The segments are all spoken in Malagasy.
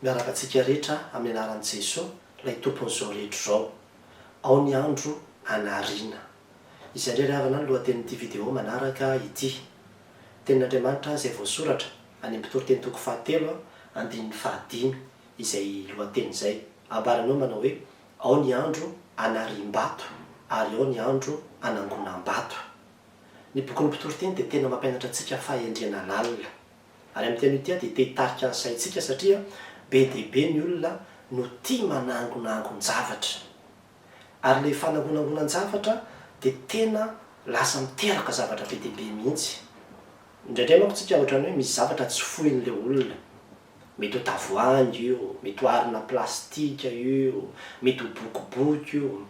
Miaraka antsika rehetra amin'ny anaran'i Jesoa, ilay Tompon'izao rehetra izao. Ao ny andro hanariana. Izay indray ry havana ny lohatenin'ity video manaraka ity. Tenin'Andriamanitra izay voasoratra any amin'ny Mpitoriteny toko fahatelo, andininy fahadimy, izay lohateny izay. Ambarany ao manao hoe, Ao ny andro hanariam-bato ary ao ny andro hanangonam-bato. Ny bokin'ny Mpitoriteny dia tena mampianatra antsika fahendrena lalina. Ary amin'ity anio ity dia te hitarika ny saintsika satria be dia be ny olona no tia manangonangon-javatra. Ary ilay fanangonangonan-javatra dia tena lasa miteraka zavatra be dia be mihitsy. Indraindray manko isika ohatran'ny hoe misy zavatra tsy foin'ilay olona. Mety ho tavoahangy io, mety ho harona plastika io, mety ho boky boky io.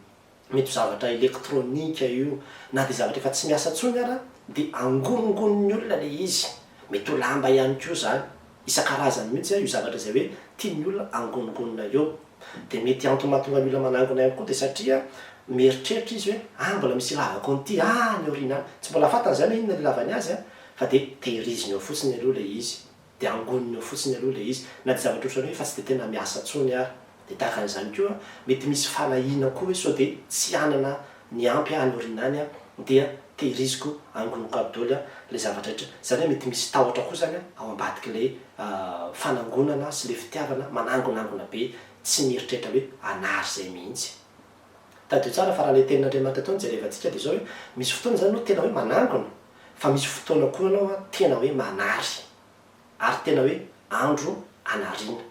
Mety ho zavatra elektronika io, na dia zavatra efa tsy miasa intsony ara dia angoningonin'ny olona ilay izy. Mety ho lamba ihany koa izany. Isan-karazany mihitsy io zavatra izay hoe tian'ny olona angoningonina eo. Dia mety antony mahatonga ny olona manangona ihany koa dia satria mieritreritra izy hoe ah mbola misy ilavako an'ity any aoriana any. Tsy mbola fantany izany hoe inona no ilavany azy an! fa dia tehiriziny ao fotsiny aloha ilay izy. Dia angoniny ao fotsiny aloha ilay izy. Na dia zavatra ohatran'ny hoe efa tsy dia tena miasa intsony ary. Dia tahaka an'izany koa, mety misy fanahiana koa hoe sao dia tsy hanana ny ampy aho any aoriana any aho, dia tehiriziko, angoniko aby daholo ilay zavatra rehetra. Izany hoe mety misy tahotra koa izany ao ambadik'ilay fanangonana sy ilay fitiavana manangonangona be tsy mieritreritra hoe hanary izay mihitsy. Tadidio tsara fa raha ilay tenin'Andriamanitra teo no jerevantsika dia izao hoe, misy fotoana izany ianao tena hoe manangona, fa misy fotoana koa ianao tena hoe manary, ary tena hoe andro anariana.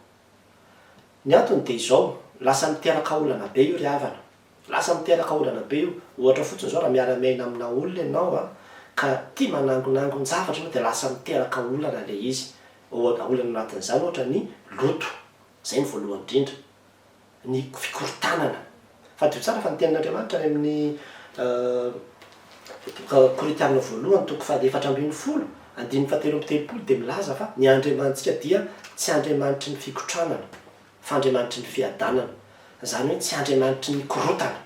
Ny antony dia izao, lasa miteraka olana be io ry havana, lasa miteraka olana be io. Ohatra fotsiny izao, raha miara-miaina amina olona ianao ka tia manangonangon-javatra ianao dia lasa miteraka olana ilay izy. Olana anatin'izany ohatra ny loto, izay no voalohany indrindra. ny fikorontanana. Fantatrao tsara fa ny Tenin'Andriamanitra any amin'ny Korintiana voalohany toko fahaefatra ambin'ny folo, andininy fahatelo amby telopolo dia milaza fa ny Andriamanitsika dia tsy Andriamanitry ny fikotranana fa Andriamanitry ny fiadanana. Izany hoe tsy Andriamanitry ny korontana.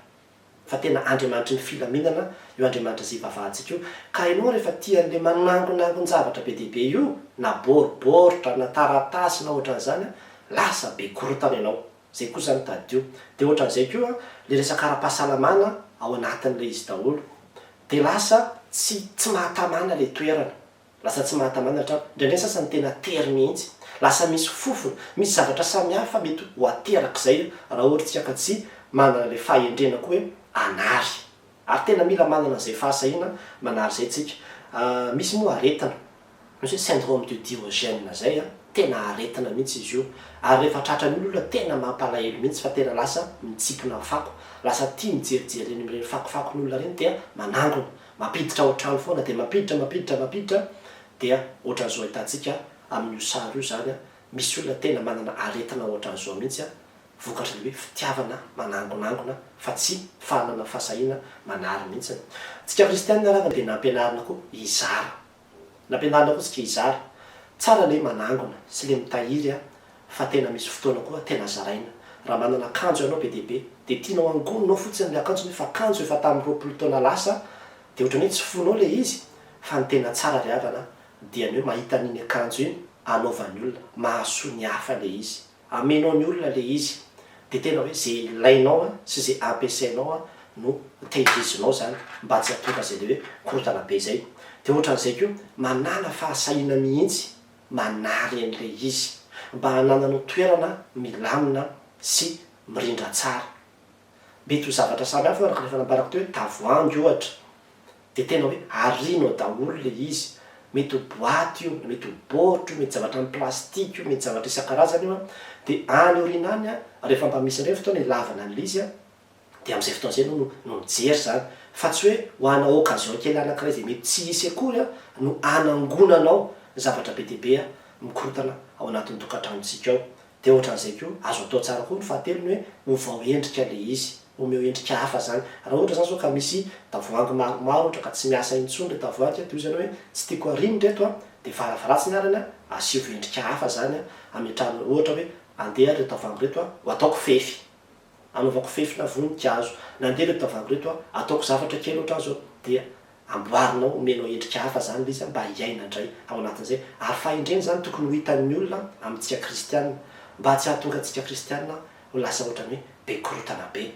fa tena Andriamanitry ny filaminana io Andriamanitra izay ivavahantsika io, ka ianao rehefa tia an'ilay manangonangon-javatra be dia be io, na baoribaoritra, na taratasy, na ohatran'izany an, lasa be korontana ianao, izay kosa zany tadidio, dia ohatran'izay koa ilay resaka ara-pahasalamana ao anatin'ilay izy daholo, dia lasa tsy tsy mahatamana ilay toerana, Lasa tsy mahatamanatra aho. Indraindray ny sasany tena tery mihitsy. Lasa misy fofona, misy zavatra samihafa mety ho aterak'izay raha ohatra isika ka tsy manana ilay fahendrena koa hoe hanary. Ary tena mila manana an'izay fahasahiana manary izay isika. Misy moa aretina, misy hoe syndrome de Diogène izay, tena aretina mihitsy izy io. Ary rehefa tratran'io ny olona, tena mampalahelo mihitsy fa tena lasa mitsipona fako. Lasa tia mijerijery ireny fakofakon'olona ireny dia manangona. Mampiditra ao an-trano foana dia mampiditra, mampiditra, mampiditra dia ohatran'izao ahitantsika amin'io sary io izany an, misy olona tena manana aretina ohatran'izao mihitsy an, vokatry ny hoe fitiavana manangonangona fa tsy fanana fahasahiana manary mihitsy. Antsika kristianina araka dia nampianarina koa hizara. Nampianarina koa tsika hizara. Tsara le manangona sy le mitahiry a fa tena misy fotoana koa tena zaraina. Raha manana akanjo ianao be dia be dia tianao angoninao fotsiny le akanjo nefa akanjo efa tamin'ny roapolo taona lasa dia ohatran'ny hoe tsy fonao le izy fa ny tena tsara ry havana dia ny hoe mahita an'iny akanjo iny anaovan'ny olona mahasoa ny hafa le izy. Amenao ny olona le izy de tena hoe ze ilainao a sy ze ampiasainao a no tehirizinao zany mba tsy hatonga zay le hoe korotana be zay de otran'izay ko manala fahasahiana mihintsy manary an'le izy mba hanananao toerana milamina sy mirindra tsara mety ho zavatra samy hafa araka ny efa nambarako teo hoe tavoahangy ohatra Dia tena hoe arino ao daholo ilay izy. Mety ho boaty io, na mety ho baoritra io, mety zavatra amin'ny plastika io, mety zavatra isan-karazany io an. Dia any aoriana any an, rehefa mba misy indray ny fotoana ilavana an'ilay izy an, dia amin'izay fotoana izay ianao no mijery izany. Fa tsy hoe ho anao occasion kely anankiray izay mety tsy hisy akory an, no hanangonanao ny zavatra be dia be mikorotana ao anatin'ny tokantranontsika ao. Dia ohatran'izay koa, azo atao tsara koa ny fahatelony hoe ovao endrika ilay izy, omeo endrika hafa izany. Raha ohatra izany izao ka misy tavoahangy maromaro ohatra ka tsy miasa intsony ilay tavoahangy dia hoy izany hoe tsy tiako arino ireto a, dia varavaratsiny arany a, asivo endrika hafa izany a, ametrahana ohatra hoe andeha ary ireo tavoahangy ireto a, ho ataoko fefy. Anaovako fefina voninkazo. Nandeha ireto tavoahangy ireto a! Ataoko zavatra kely ohatran'ny izao dia amboarinao, omenao endrika hafa izany ilay izy a, mba hiaina indray ao anatin'izay. Ary fahendrena izany tokony ho hitan'ny olona amintsika kristiana, mba tsy hahatonga antsika kristiana ho lasa ohatran'ny hoe be korontana be.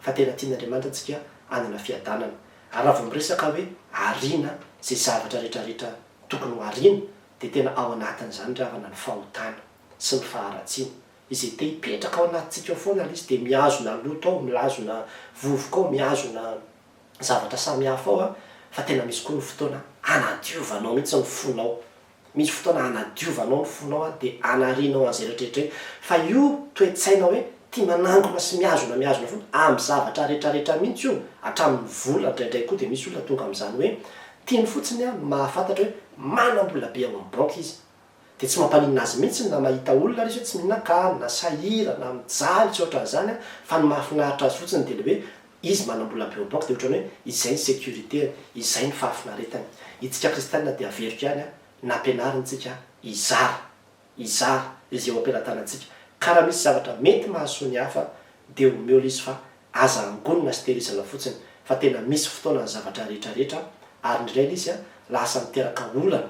Fa tena tian'Andriamanitra antsika hanana fiadanana. Ary raha vao miresaka hoe ariana izay zavatra rehetrarehetra tokony ho ariana, dia tena ao anatin'izany ry havana ny fahotana sy ny faharatsiana. Izay te hipetraka ao anatintsika ao foana ilay izy dia mihazona loto ao, milazona vovoka ao, mihazona zavatra samihafa ao fa tena misy koa ny fotoana hanadiovanao mihitsy ny fonao. Misy fotoana hanadiovanao ny fonao dia hanarianao an'izay rehetrarehetra io. Fa io toe-tsaina hoe tia manangona sy mihazona mihazona foana amin'ny zavatra rehetrarehetra mihitsy io, hatramin'ny vola indraindray koa dia misy olona tonga amin'izany hoe tiany fotsiny ny mahafantatra hoe manam-bola be ao amin'ny banky izy. Dia tsy mampaninona azy mihitsy na mahita olona ary izy hoe tsy mihinan-kany, na sahirana, mijaly, tsy ohatran'izany an, fa ny mahafinaritra azy fotsiny dia ilay hoe izy manam-bola be au banque dia ohatran'ny hoe izay ny sécurité-ny, izay ny fahafinaretany. Itsika kristianina dia averiko ihany an, nampianarintsika hizara, hizara izay eo am-pelatanantsika, ka raha misy zavatra mety mahasoa ny hafa dia omeo ilay izy fa aza angonina sy tehirizana fotsiny fa tena misy fotoana ny zavatra rehetra rehetra ary ny iray ilay izy an lasa miteraka olana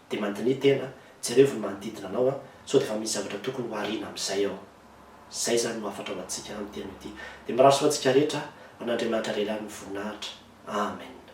Dia mandiniha tena, jerevo ny manodidina anao an, sao dia efa misy zavatra tokony ho ariana amin'izay ao. Izay izany no hafatra ho antsika amin'ity andro ity. Dia mirary soa antsika rehetra an, Andriamanitra Lehilahy no voninahitra. Amen.